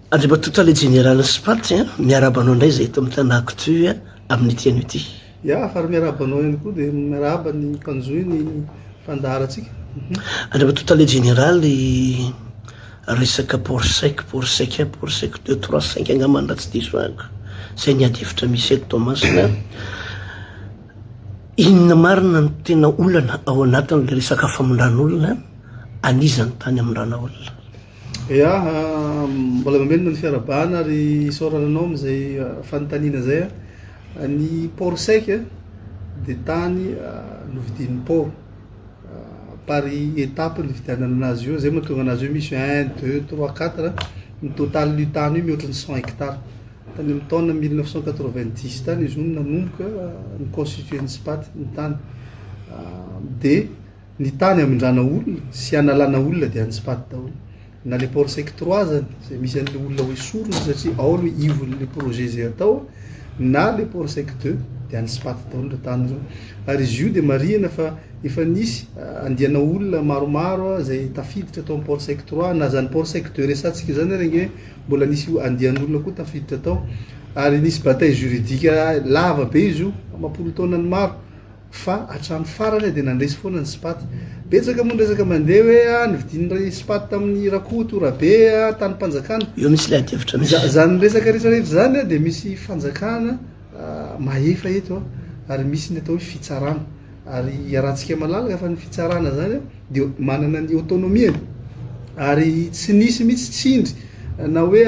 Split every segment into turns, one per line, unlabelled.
Andriamatoa Tale Jeneralin'ny Spat a, miarahaba anao indray izahay eto amin'ny Tana Actu amin'ity anio ity. Ya, ary miarahaba
anao ihany koa, dia miarahaba ny mpanjohy ny mpandaharantsika. Mhm. Andriamatoa
Tale Jeneraly, resaka port sec, port sec un, port sec deux, trois, cinq angambany raha tsy diso ahiko, izay ny ady hevitra misy eto Toamasina. Inona marina no tena olana ao anatin'ilay resaka famindran'olona anizany tany amin-dranaolona? Ya,
mbola mamelona ny fiarahabana ary isaorana anao amin'izay fanontaniana izay. Ny port sec dia tany novidian'ny port par étape ny nividianana anazy io, izay no mahatonga anazy hoe misy un, deux, trois, quatre, ny totalin'io tany io mihoatra ny cent hectares. Tany amin'ny taona mille neuf cent quatre vingt dix tany izy io no nanomboka ni-constituer ny SPAT ny tany dia. Ny tany hamindrana olona sy hanalana olona dia any Spat daholo. Na le port sec trois azany izay misy an'le olona ho esorina satria ao aloha ivon'le projet izay atao na le port sec deux dia any Spat daholo ireo tany ireo. Ary izy io dia marihina fa efa nisy andiana olona maromaro izay tafiditra tao amin'ny port sec trois na izany port sec deux resatsika izany ary ange mbola nisy andian'olona koa tafiditra tao ary nisy bataille juridique lava be izy io amam-polon-taonany maro. fa hatramin'ny farany dia nandresy foana ny Spat. Betsaka moa ny resaka mandeha hoe ah novidian'ny Spat tamin'ny Rakoto Rabe ah tanim-panjakana. Eo misy ilay adihevitra
misy. Izany resaka rehetra rehetra
izany ah dia misy fanjakana mahefa eto ah ary misy ny atao hoe fitsarana ary iarahantsika malalaka fa ny fitsarana izany ah. dia manana ny autonomie-ny ary tsy nisy mihitsy tsindry na hoe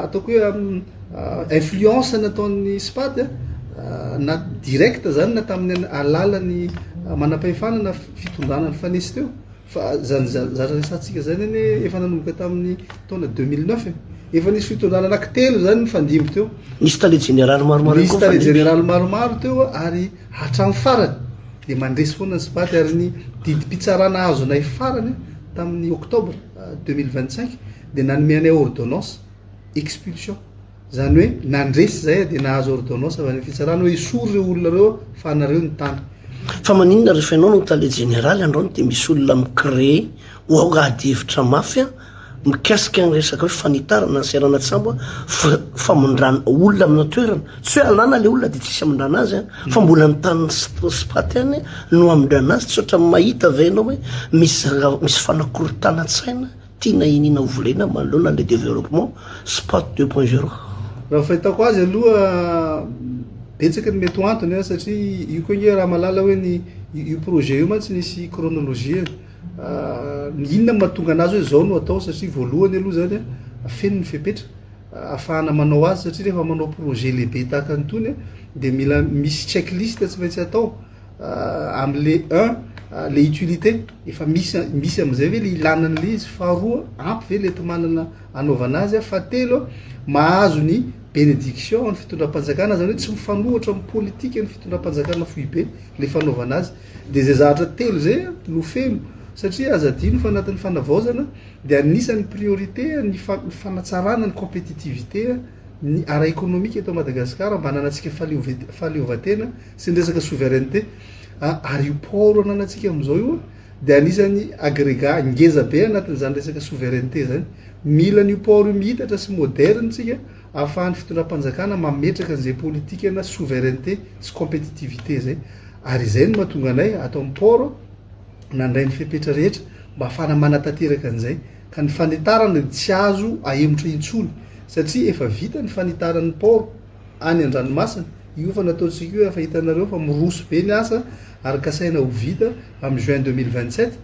ataoko hoe influence nataon'ny SPAD na direct zany na tamin'ny alalan'ny manam-pahefana na fitondrana nifanesy teo fa zany zara resahantsika zany anie efa nanomboka tamin'ny taona deux mille neuf e efa nisy fitondrana anaky telo zany nifandimby teo Nisy tale jeneraly
maromaro ihany koa nifandimby. Nisy tale jeneraly
maromaro teo ary Hatramin'ny farany dia mandresy foana ny Sipady ary ny didim-pitsarana azonay farany tamin'ny Octobre deux mille vingt cinq dia nanome anay ordonnance expulsion, izany hoe nandresy izay dia nahazo ordonnance avy any amin'ny fitsarana hoe esory ireo olona ireo fa anareo ny tany. Fa maninona
rehefa ianao no tale jeneraly androany dia misy olona mi-creer ho ao ady hevitra mafy an! Mikasika ny resaka hoe fanitarana ny seranan-tsambo fa famindrana olona amina toerana, tsy hoe alàna ilay olona dia tsisy hamindrana azy fa mbola ny tany spot ihany no hamindrana azy, tsy ohatran'ny mahita ve ianao hoe misy misy fanakorontanan-tsaina tiana iniana ho volena manoloana an'ilay développement spot deux point zéro? Raha ny fahitako
azy aloha betsaka ny mety ho antony satria io koa ange raha malala hoe ny io projet io mantsy nisy chronologie-ny. Inona no mahatonga an'azy hoe zao no atao satria voalohany aloha zany a feno ny fepetra afahana manao azy satria rehefa manao projet lehibe tahaka ny tony de mila misy check liste tsy maintsy atao amle un le utilité efa misy misy am'zay ve le ilana an'le izy faharoa ampy ve le enti-manana anaovana azy a fahatelo a mahazo ny benediction an'ny fitondram-panjakana zany hoe tsy mifanohitra amin'ny politika ny fitondram-panjakana foibe le fanaovana azy Dia izay zahatra telo izay no feno satria aza adino fa anatin'ny fanavaozana dia anisan'ny priorité ny fanatsarana ny compétitivité ny ara-ekonomika eto Madagasikara mba hananantsika fahaleovantena sy ny resaka souveraineté ary io port ananantsika amin'izao io dia anisan'ny agrega ngeza be anatin'izany resaka souveraineté izany. Mila an'io port io mihitatra sy moderne tsika. Ahafahan'ny fitondram-panjakana mametraka an'izay politikana souveraineté sy compétitivité izay. Ary izay no mahatonga anay ato amin'ny port nandray ny fepetra rehetra mba ahafahana manatanteraka an'izay. Ka ny fanitarana dia tsy azo ahemotra intsony satria efa vita ny fanitaran'ny port any an-dranomasina. Io efa nataontsika io, efa hitanareo fa miroso be ny asa ary kasaina ho vita amin'ny juin deux mille vingt-sept.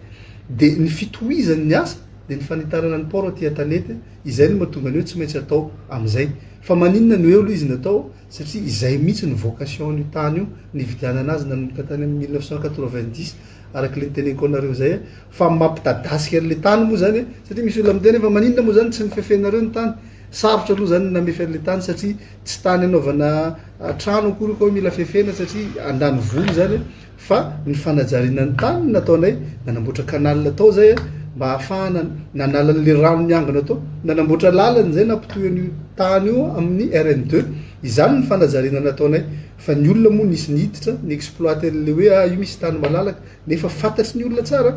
Dia ny fitohizan'ny asa dia ny fanitarana ny port aty Antanety. Izay no mahatonga ny hoe tsy maintsy atao amin'izay. Fa maninona no eo aloha izy natao? Satria izay mihitsy no vocation an'io tany io nividianana azy nanomboka tany amin'ny mille neuf cent quatre-vingt-dix araka ilay niteneniko anareo izay fa mampidadasika an'ilay tany moa izany e! Satria misy olona miteny hoe fa maninona moa izany tsy nofefenareo ny tany? Sarotra aloha izany ny namefy an'ilay tany satria tsy tany hanaovana trano akory io ka hoe mila fefena satria an-danivolo izany e! fa ny fanajariana ny tany no nataonay, nanamboatra canal tao zay mba hahafahana nanala an'le rano niangona tao, nanamboatra lalana zay nampitohy an'io tany io amin'ny RN deux, izany ny fanajariana nataonay, fa ny olona moa nisy niditra ni-exploite an'le hoe ah io misy tany malalaka, nefa fantatry ny olona tsara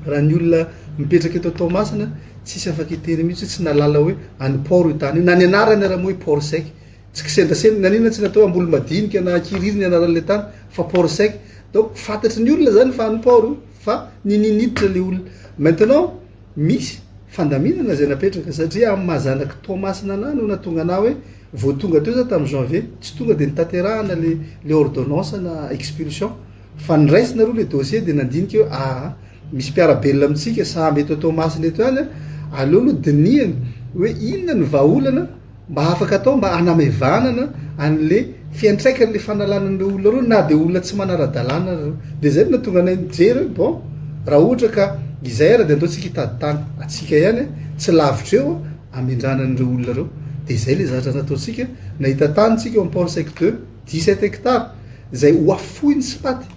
raha ny olona mipetraka eto Toamasina tsisy afaka hitery mihitsy hoe tsy nahalala hoe any port io tany io, na ny anarany ary moa hoe port sec. Tsy kisendrasendra, na inona tsy natao hamboly madinika na hankiriry ny anaran'ilay tany fa port sec. Donc fantatry ny olona zany fa any port io fa nini niditra le olona. Maintenant misy fandaminana zay napetraka satria amin'ny maha zanak'i Toamasina anah no nahatonga anah hoe vao tonga teo za tamin'ny janvier tsy tonga de notanterahana le le ordonnance ana expulsion. Fa ny raisina aloha le dossier dia nandinika hoe ah misy mpiara-belona amintsika saham eto Toamasina eto ihany ah, aleo aloha dinihana hoe inona ny vahaolana mba afaka atao mba hanamaivanana an'le fiantraikan'le fanalana an'ireo olona ireo na dia olona tsy manara-dalàna ary ireo. Dia izay no nahatonga anay nijery hoe bon raha ohatra ka izay ary dia andeontsika hitady tany atsika ihany an, tsy lavitra eo an, hamindràna an'ireo olona ireo. Dia izay ilay zavatra nataontsika, nahita tany tsika ao amin'ny Port Sec deux. Dix-sept hectares izay ho afoiny sy paty,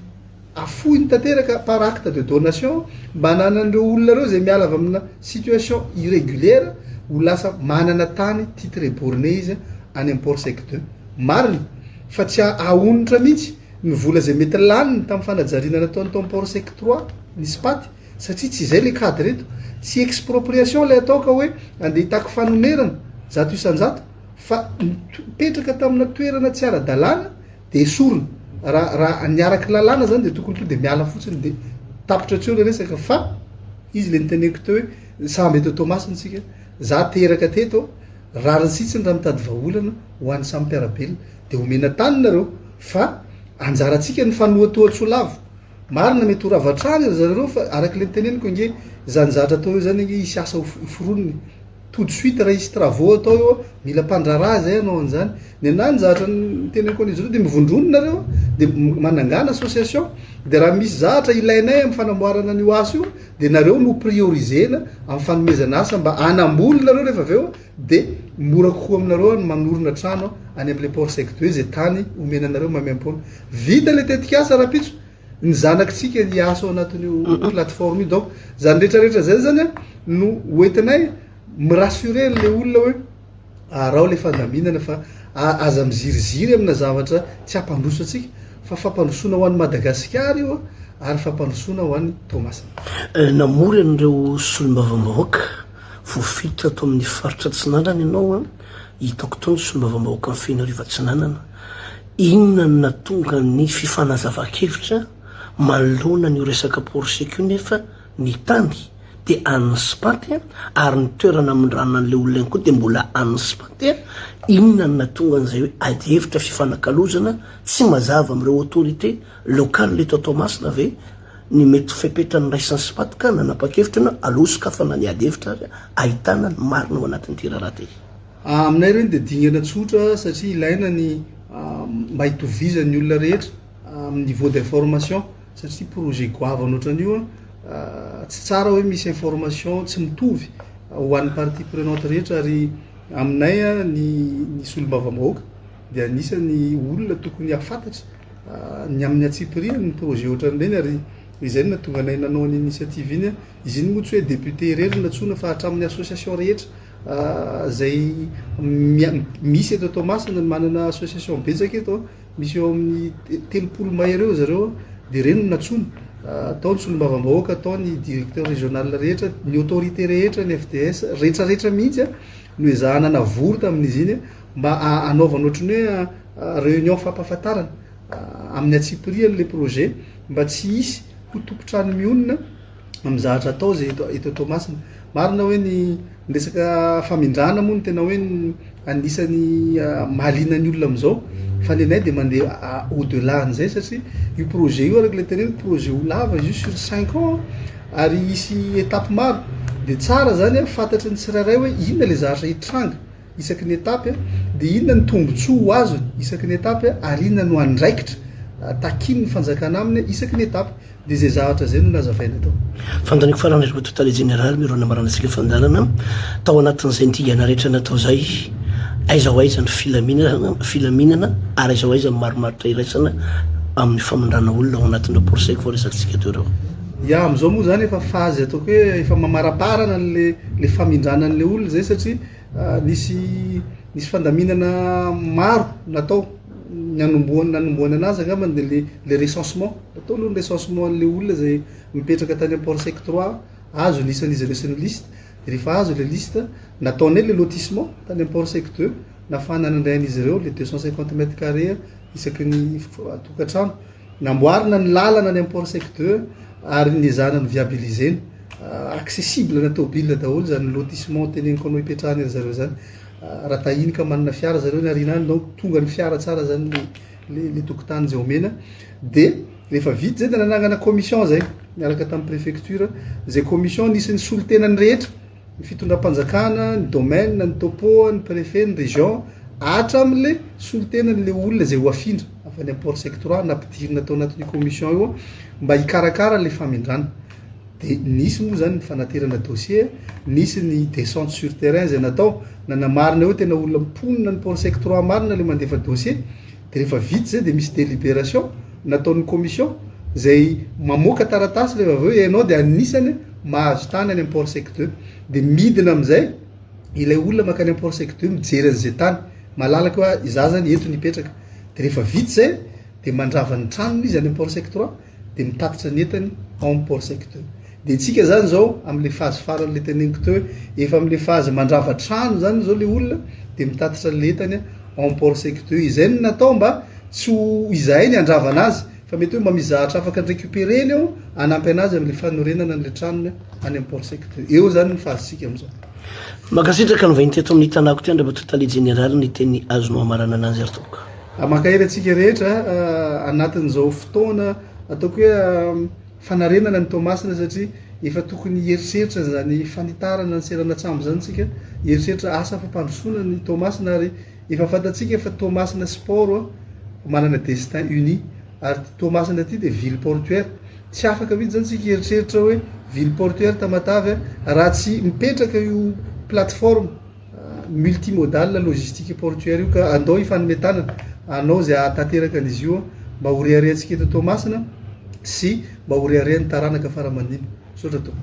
afoiny tanteraka par acte de donation mba hananan'ireo olona ireo izay miala avy amina situation irregulaire ho lasa manana tany titre borne izy any am-port sec deux. Marina fa tsy ahaonitra mihitsy ny vola izay mety laniny tamin'ny fanajariana nataony tao am-port sec trois nisy paty satria tsy izay ilay cadre eto. Tsy expropriation ilay atao ka hoe andeha hitaky fanonerana zato isan-jato. Fa nipetraka tamina toerana tsy ara-dalàna dia esorina. Raha raha ny araka ny lalàna izany dia tokony tonga dia miala fotsiny dia tapitra tsy eo ilay resaka. Fa izy ilay niteneniko teo hoe sambo eto Toamasina isika, izaho teraka teto, rariny sitsiny raha mitady vahaolana ho an'ny samy mpiara-belona. Dia omena tany nareo fa anjarantsika ny fanohatohan-tsoa lavo. Marina mety ho rava hatrany ry zareo ireo fa araka ilay niteneniko ange izany zavatra atao eo izany ange hisy asa ho foronina e. tout de suite raha hisy travaux atao eo, mila mpandraharaha zay hanao an'izany, nenaha ny zavatra niteneniko an'izy ireo dia mivondrona nareo dia manangana association dia raha misy zavatra ilainay amin'ny fanamboarana an'io asa io dia nareo no prioriser-na amin'ny fanomezana asa mba hanamboly nareo rehefa avy eo dia mora kokoa aminareo ny manorina trano any amin'ilay port sec de izay tany omena anareo maimaimpoana, vita ilay tetikasa rahampitso. ny zanakitsika ny hiasa ao anatin'io plateforme io donc zany rehetra rehetra zay zany a no hoentinay mi-rassurer an'le olona hoe arao le fandaminana fa aza miziriziry amina zavatra tsy hampandroso antsika fa fampandrosoana ho an'i Madagasikara io ary fampandrosoana ho an'i Toamasina. Eh, namory
an'ireo solombavambahoaka voafetra ato amin'ny faritra Atsinanana ianao an. Hitako tao ny solombavambahoakan'ny Fenoarivo Atsinanana. Inona no nahatonga ny fifanazavan-kevitra manoloana an'io resaka poroseka io nefa ny tany dia an'ny SPAT ary ny toerana amindràna an'ilay olona ihany koa dia mbola an'ny SPAT? Inona no nahatonga an'izay hoe adihevitra fifanakalozana tsy mazava amin'ireo autorités locales eto Toamasina ve? ny mety ho fepetra noraisiny sy patka na nanapa-kevitra na aleo sokafana ny ady hevitra ary ahitana ny marina ao anatin'ity raharaha ity. Aminay ireny dia
dingana tsotra satria ilaina ny mba hitovizan'ny olona rehetra amin'ny niveau d'information satria projet goavana ohatran'io tsy tsara hoe misy information tsy mitovy ho an'ny parties prenantes rehetra ary aminay ny solombavambahoaka dia anisan'ny olona tokony hahafantatra ny amin'ny antsipiriany ny projet ohatran'ireny ary izay no nahatonga anay nanao an'iny initiative iny. Izy iny moa tsy hoe député irery no nantsoina fa hatramin'ny association rehetra izay misy eto Toamasina, manana association betsaka eto, misy eo amin'ny telopolo mahery eo zareo dia ireny no nantsoina. Tao ny solombavambahoaka, tao ny directeur régional rehetra, ny autorité rehetra, ny FDS, retraretra mihitsy no ezahana navory tamin'izy iny. mba anaovana ohatran'ny hoe réunion fampahafantarana amin'ny antsipiriany ilay projet mba tsy hisy ho tompon-trano mionona amin'ny zavatra atao izay eto eto Toamasina. Marina hoe ny ny resaka famindrana moa no tena hoe ny anisan'ny ah, mahaliana ny olona amin'izao fa ny anay dia mandeha ah, au delà an'izay satria io projet io araka ilay teneniko projet ho lava izy io sur cinq ans ah. ary hisy étape maro dia tsara zany ah, fantatry ny tsirairay hoe inona ilay zavatra hitranga isaky ny etapy dia inona ny tombontsoa ho azony isaky ny etapy ary inona no andraikitra takian'ny fanjakana aminy isaky ny etapy dia izay zavatra izay no nazavaina tao. Fanontaniako farany ry
Koto Tale Jeneraly miaro ny nambarana sy ny fandalana tao anatin'izay ny dingana rehetra natao izay aiza ho aiza ny filaminana filaminana ary aiza ho aiza ny marimaritra iraisana amin'ny famindrana olona ao anatin'ireo procès voaresakitsika teo ireo. Ya, amin'izao moa
izany efa fazy ataoko hoe efa mamaraparana an'le le famindranan'le olona izay satria Nisy nisy fandaminana maro natao ny anombohana nanombohana anazy angambany dia le le recensement natao aloha ny recensement an'le olona izay mipetraka tany am port sec trois azo ny isan'izy ireo sy ny liste dia rehefa azo le liste nataonay le lotissement tany am port sec deux nahafahana nandray an'izy ireo le deux cent cinquante mètres carré isaky ny tokantrano Namboarina ny lalana any amin'ny Port Sec deux ary ny zanany viabilisena. Accessible na tôbile daholo izany lotissement teneniko anao ipetrahan ry zareo izany. Raha tahiny ka manana fiara zareo ny aoriana any donc tonga ny fiara tsara izany le le tokotany izay omena. Dia rehefa vita izay dia nanangana commission izay niaraka tamin'ny prefecture. Izay commission nisy ny solontenan'ny rehetra. ny fitondram-panjakana, ny domaine, ny topo, ny préfet, ny région, hatramin'ilay solontenan'ilay olona izay ho afindra avy any amin'ny port sectoral nampidirina tao anatin'io commission io mba hikarakara ilay famindrana. Dia nisy moa izany ny fanaterana dossier, nisy ny descente sur terrain izay natao, nanamarina hoe tena olona mponina ny port sectoral marina ilay mandefa dossier, Dia rehefa vita izay dia misy deliberation nataon'ny commission izay mamoaka taratasy rehefa avy eo ianao dia anisany mahazo tany any amin'ny port sec deux. Dia midina amin'izay ilay olona mankany amin'ny port sec deux mijery an'izay tany malalaka hoe izaho izany eto no hipetraka. Dia rehefa vita izay dia mandrava ny tranony izy any amin'ny port sec trois. dia mitatitra ny entany ao amin'ny port sec teo. Dia isika zany izao amin'ilay fazy farany le teneniko teo hoe efa amin'ilay fazy mandrava trano zany izao le olona dia mitatitra le entany ao amin'ny port sec teo. Izay no natao mba tsy ho izahay ny handravana azy fa mety hoe mba misy zahatra afaka ny récupérer-ny ao hanampy anazy amin'ilay fanorenana an'ilay tranony any amin'ny port sec teo. Eo zany ny fazitsika amin'izao. Mankasitraka
ny vahiny teto amin'ny tanàko teo Andriamatoa Tale Jeneraly ny teny azonao hamarana anazy ary tompoko. Mankahery antsika
rehetra anatin'izao fotoana ataoko hoe fanarenana ny Toamasina satria efa tokony hieritreritra an'izany fanitarana ny seranan-tsambo izany isika, hieritreritra asa fampandrosoana ny Toamasina ary efa fantatsika fa Toamasina sy Port manana destin uni ary ity Toamasina ity dia ville portuaire. Tsy afaka mihitsy izany isika hieritreritra hoe ville portuaire Tamatave raha tsy mipetraka io plateforme multimodal logistique portuaire io ka andao hifanome tanana hanao izay hahatanteraka an'izy io mba ho reharehantsika eto Toamasina sy mba ho reharehan'ny taranaka fara-mandimby. Misaotra Tompo.